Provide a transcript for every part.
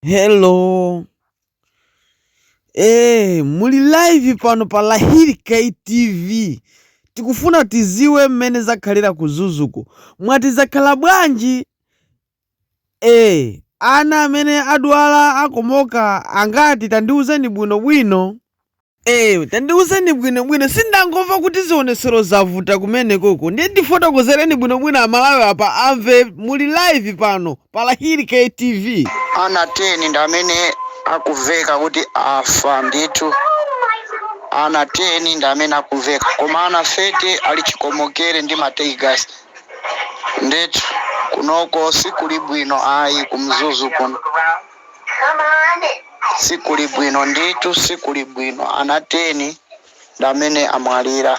Hello. Eh, muli live pano pa Lahiri KTV. Tikufuna tiziwe mmene zakhalira ku Mzuzuko. Mwati zakhala bwanji? Eh, ana amene adwala akomoka angati tandiuzeni bwinobwino. Eee, tandiuzeni bwinobwino, sindangomva kuti zionetsero zavuta kumenekoko, ndiye tifotokozereni bwinobwino amalawi apa amve, muli live pano pa Lahiri K TV. Ana 10 ndi amene akuveka kuti afa ndithu. Ana 10 ndi amene akuveka koma ana 30 ali chikomokere ndi ma teargas. Ndithu kunoko sikuli bwino ayi ku Mzuzu kuno. sikuli bwino ndithu sikuli bwino ana 10 ndamene amwalira.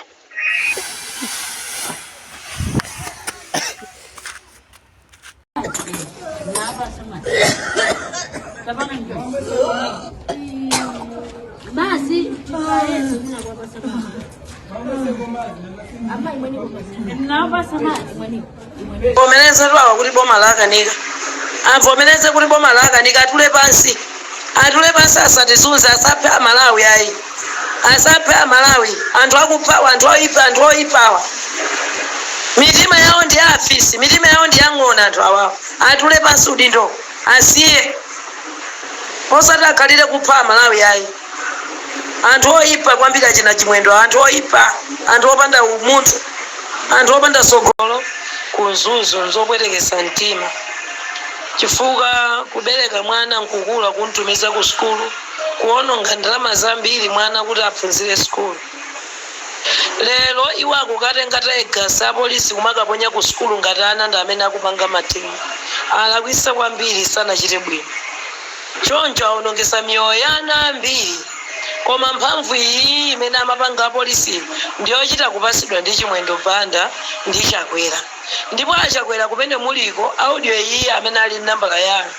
Avomelezetu awa kuti boma lawakanika. Avomeleze kuti boma lawakanika atule pansi. Atule pansi asatizunze asaphe a Malawi ayi. Asaphe a Malawi. Anthu akuphawa anthu oipawa. Mitima yawo ndi ya afisi, mitima yawo ndi ya ng'ona anthu awawa. Atule pansi udindo asiye. Osati akhalire kupha a Malawi ayi. anthu oyipa kwambiri achina chimwendo anthu oyipa anthu opanda umunthu anthu opanda sogolo ku Mzuzu nzopwetekesa mtima chifukwa kubereka mwana nkukula kumtumiza ku sukulu kuononga ndalama zambiri mwana kuti aphunzire sukulu lero iwo akukatenga teargas apolisi kumakaponya ku sukulu ngati ana ndi amene akupanga mademo alakwisa kwambiri sanachite bwino Choncho awonongesa miyoyo ya ana ambiri koma mphamvu iyiyi imene amapanga apolisi ndiyochita kupasidwa ndi chimwendo banda ndi chakwera ndipo achakwera kumene muliko audio iyiyi amene ali ndi nambala yanu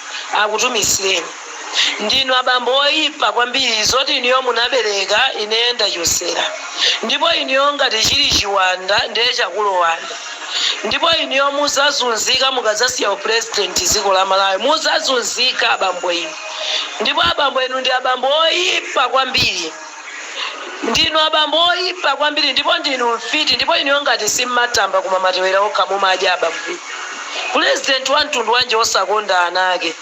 akutumizireni ndinu abambo oipa kwambiri zoti inuyo munabereka ineyo ndachotsera ndipo inuyo ngati chili chiwanda ndiye chakulowani Ndipo inuyo muzazunzika mukazasiya u president ziko la Malawi muzazunzika abambo inu ndipo abambo inu ndi abambo oyipa kwambiri ndinu abambo oyipa kwambiri ndipo ndinu mfiti ndipo inuyo ngati simmatamba koma matewera okha mumadya abambo inu president wa mtundu wanji osakonda ana ake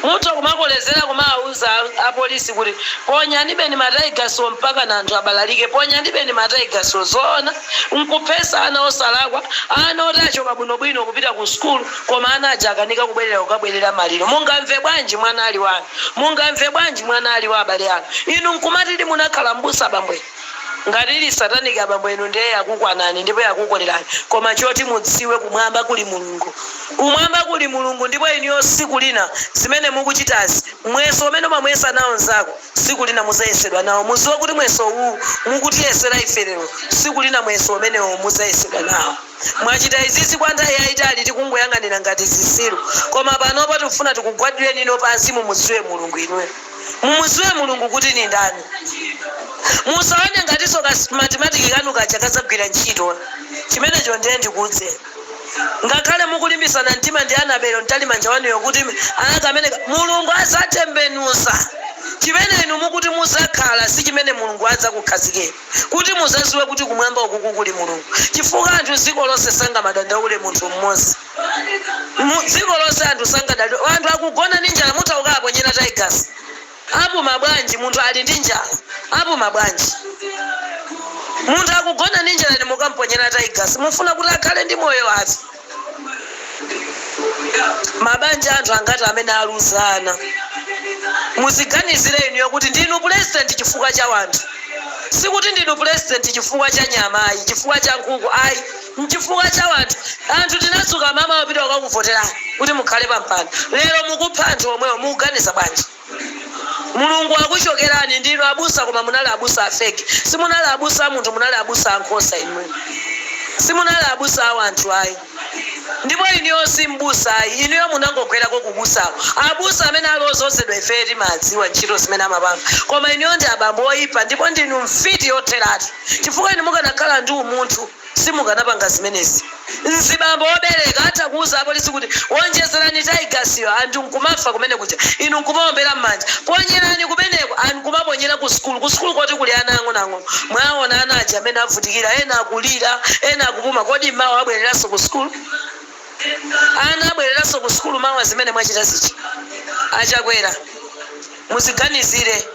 Mutha kumakolezera kumawauza a police kuti ponyandibeni ma tiegasi wo mpakana anthu abalalike, ponyandibeni ma tiegasi wo, zoona? Nkuphesa ana osalakwa, ana oti achoka bwino bwino kupita ku sukulu koma ana aja akanika kubwelera kukabwelera maliro. Mungamve bwanji mwana ali wanu? Mungamve bwanji mwana ali wa abale anu? Inu nkumati munakhala m'busa bambo inu? Ngati ili satanic abambo inu ndiye yakukwanani ndipo yakukolerani koma choti mudziwe kumwamba kuli Mulungu kumwamba kuli Mulungu ndipo inuyo siku lina zimene mukuchitazi mweso umene umamuyesa nawo nzako siku lina muzayesedwa nawo muziwe kuti mweso uwu mukutiyesera ife lero siku lina muyeso umenewo muzayesedwa nawo mwachita izizi kwa nthawi yayitali tikungoyang'anira ngati zisiru koma panopa tikufuna tikugwaditseni inuyo pansi mumuziwe Mulungu inuyo Mumuziwe mulungu kuti nindani musaone ngatiso ka smartimatic kanu kaja kazagwira ntchito chimenecho ndiye ndikuuze ngakhale mukulimbisana mtima ndi Annabel Mtalimanja wanuyo kuti aa kameneka mulungu azatembenuza chimene inu mukuti muzakhala sichimene mulungu adzakukhazikeni kuti muzaziwe kuti kumwamba ukuku kuli mulungu chifukwa anthu dziko lonse sangamadandaule munthu mmozi mu dziko lonse anthu sangadandaule anthu akugona ndi njala mutha kukawaponyera teargas apuma bwanji munthu ali ndi njala apuma bwanji munthu akugona ndi njala inu mukamponyera teargas mufuna kuti akhale ndi moyo uti mabanja anthu angati amene aluza ana muziganizire inuyo kuti ndinu president chifukwa cha wanthu sikuti ndinu president chifukwa cha nyama ayi chifukwa cha nkhuku ayi Nchifukwa cha wanthu anthu tinadzuka mamawa kupita kukakuvoterani kuti mukhale pa mpando lero mukupha anthu omwewo mukuganiza bwanji? Mulungu wakuchokerani ndinu abusa koma munali abusa a fake simunali abusa a anthu munali abusa a nkhosa inuyo simunali abusa a wanthu ayi ndipo inuyo si mbusa ayi inuyo munangogwerako ku busako abusa amene ali ozozedwa ifeyo timadziwa ntchito zimene amapanga koma inuyo ndi abambo oyipa ndipo ndinu mfiti yotheratu chifukwa inu mukanakhala ndi umunthu Simukanapanga zimenezi. Mzibambo wobereka atha kuuza apolisi kuti, Wonjezerani tayigasiyo, anthu nkumafa kumene kuja, inu nkumaombera m'manja. Ponyerani kumeneko! nkumaponyera ku sukulu, ku sukulu koti kuli ana ang'onoang'ono. Mwawaona ana aja mmene avutikira, ena akulira, ena akupuma. Kodi mawa abwereranso ku sukulu? Ana abwereranso ku sukulu mawa zimene mwachita zija, a Chakwera? Muziganizire.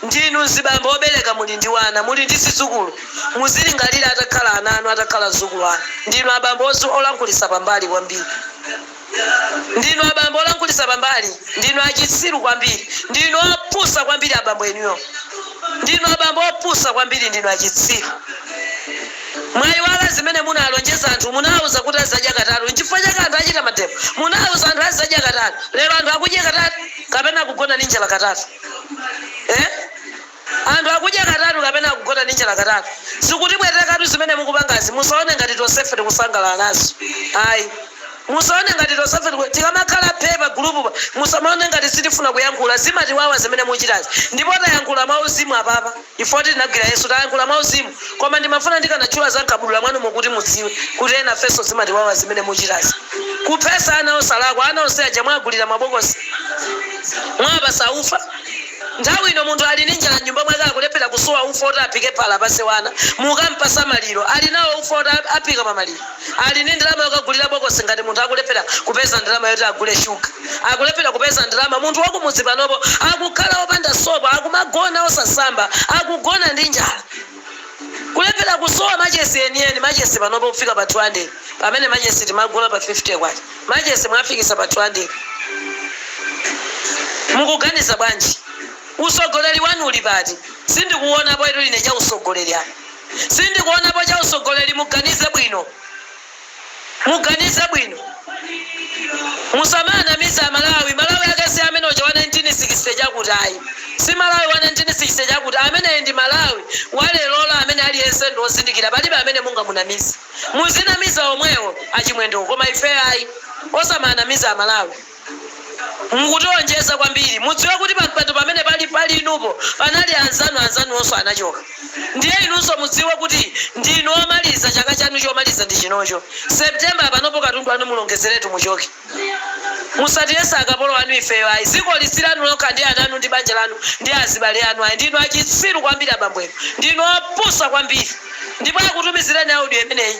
Ndinu mzibambo obereka muli ndi wana, muli ndi zidzukulu. Muzilingalira atakhala ana anu, atakhala mzukulu anu. Ndinu abambo olankhulitsa pambali kwambiri. Ndinu abambo olankhulitsa pambali. Ndinu achitsiru kwambiri. Ndinu opusa kwambiri abambo inuyo. Ndinu abambo opusa kwambiri. Ndinu achitsiru. Mwaiwala zimene munalonjeza anthu? Munawauza kuti azizadya katatu. Nchifukwa chake anthu achita mademo. Munauza anthu azizadya katatu. Lero anthu akudya katatu. kapena akugona ndi njala katatu eeh anthu akudya katatu kapena akugona ndi njala katatu zikutipwetekatu zimene mukupangazi musaone ngati tonsefe tikusangalala nazo ayi musaone ngati tonsefe tiku tikamakhala phee pa grupupa musamaone ngati sitifuna kuyankhula zimatiwawa zimene muchitazi ndipo tayankhula mwauzimu apapa. Ife kuti tinagwira Yesu, tayankhula mwa uzimu koma ndimafuna ndikanatchula za mkabudula mwanumo kuti mudziwe kuti enafeso zimatiwawa zimene muchitazi. Kuphesa ana osalakwa, ana onse aja mwagulira mabokosi? Mwawapasa ufa? Nthawi ino munthu ali ndi njala mnyumba mwake akulephera kusowa ufa oti aphike phala apase wana, mukampasa maliro, ali nawo ufa oti aphika pa maliro? Ali ndi ndalama yokagulira bokosi ngati munthu akulephera kupeza ndalama yoti agule shuga. Akulephera kupeza ndalama munthu wakumudzi panopo akukhala opanda sopo akumagona osasamba akugona ndi njala. Kulephera kusowa machesi enieni machesi panopo kufika pa 200 pamene machesi timagula pa K50 machesi mwafikisa pa 200 mukuganiza bwanji? Usogoleri wanu uli pati? Sindikuonapotu ine cha usogoleri apa. sindikuonapo cha usogoleri muganize bwino muganize bwino musamaanamize amalawi malawi ake si amene uja wa 1960 chakuti ayi si malawi wa 1960 chakuti ameneyi ndi malawi wa lerolo amene aliyense ndi ozindikira palibe amene mungamunamize muzinamiza omwewo achimwendewo koma ife ayi osamaanamiza amalawi Mukutionjeza kwambiri. Mudziwe kuti pampando pamene pali inupo panali anzanu anzanuwonso anachoka ndiye inunso mudziwe kuti ndinu omaliza chaka chanu chomaliza ndi chinocho September panopo katundu anu mulongezeretu muchoke. Musatiyese akapolo anu ifeyo ayi zikoli silanu lokha ndi ananu ndi banja lanu ndi azibale anu ayi ndinu achitsiru kwambiri abambo inu ndinu opusa kwambiri ndipo akutumizireni audio imeneyi.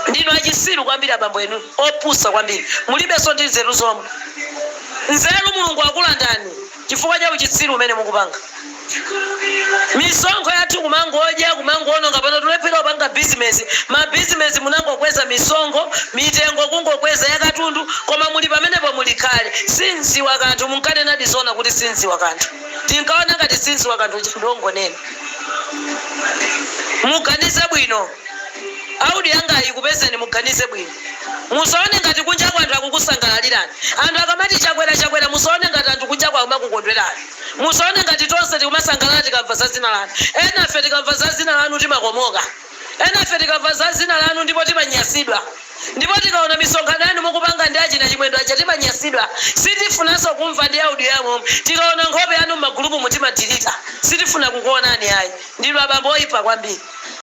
Ndinu achisiru kwambiri abambo inu opusa kwambiri mulibeso ndi nzeru zomwe nzeru mulungu akulandani chifukwa cha uchitsiru umene mukupanga misonkho yathu kumangodya kumangoononga pano tulephera kupanga business ma business munangokweza misonkho mitengo kungokweza yakatundu koma muli pamenepo muli khale sindziwa kanthu munkanenadi zoona kuti sindziwa kanthu tinkaona ngati sindziwa kanthu uja ndi ongonena Muganize bwino. Audio yangayi ikupezeni muganize bwino. Musaone ngati kunjaku anthu akukusangalalirani. Anthu akamati Chakwera Chakwera musaone ngati anthu kunjaku akumakukondwerani. Musaone ngati tonse tikumasangalala tikamva za dzina lanu. Enafe tikamva za dzina lanu timakomoka. Enafe tikamva za dzina lanu ndipo timanyasidwa ndipo tikaona misonkhano yanu mukupanga ndi achina chimwendo aja timanyasidwa sitifunanso kumva ndi audio yomwe tikaona nkhope yanu m'magulupumu timadilita sitifuna kukuonani ayi ndinu abambo oipa kwambiri.